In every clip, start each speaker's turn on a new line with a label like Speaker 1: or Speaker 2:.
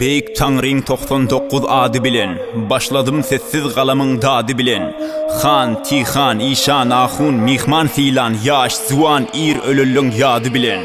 Speaker 1: Beýik Taňryň togsan dokuz ady bilen, Başladym sessiz galamyň dady bilen. Han, Tihan, işan, ahun, myhman sylan, Ýaş, zuwan, ir, ölelliň ýady bilen.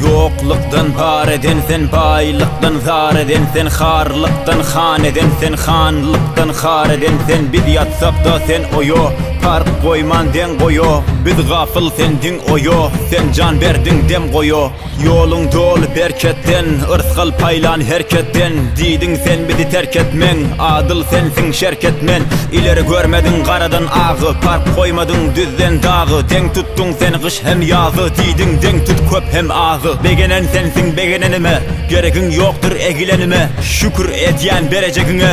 Speaker 1: Ýoklukdan bar eden sen, baýlykdan zar eden sen, Harlykdan han eden sen, hanlykdan har eden sen, Biz ýatsak-da sen oýa, Park goýman deň goýo Biz gafyl sen diň oýo Sen jan berdiň dem goýo Ýoluň doly berketden Yrsgal paýlan her ketden Diýdiň sen bizi terk etmeň Adyl sensiň şerket men Ileri görmediň garadan agy Park goýmadyň düzden dagy Deň tutduň sen gyş hem ýazy Diýdiň deň tut köp hem azy Begenen sensiň begenenime Geregiň ýokdur egilenime Şükür edýän berejegiňe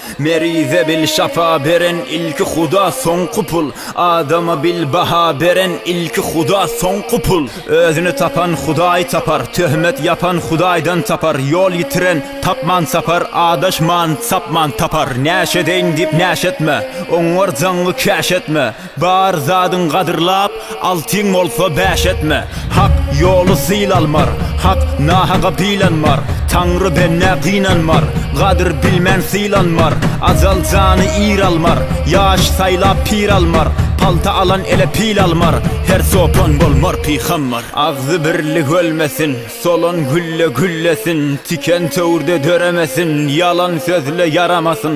Speaker 1: Merize bil şafa beren ilki huda soňky pul Adama bil baha beren ilki huda soňky pul Özüni tapan hudaý tapar Töhmet ýapan hudaýdan tapar Ýol ýitiren tapman sapar Adaşman sapman tapar Näşedeýin diýip näş etme Oňňar jaňňy käş etme Bar zadyň gadyrlap, altyň bolsa bäş etme. Hak ýoly syl almar, hak nahaga bylanmar. Taňry bendä gynanmar, gadyr bilmän sylanmar. Ajal jany ir almar, ýaş saýlap pir almar. Palta alan ele pil almar, her çopan bolmar pygambar. Agzy birli gölmesin, solan gülle güllesin. Tiken töwirde döremesin, ýalan sözle ýaramasyn.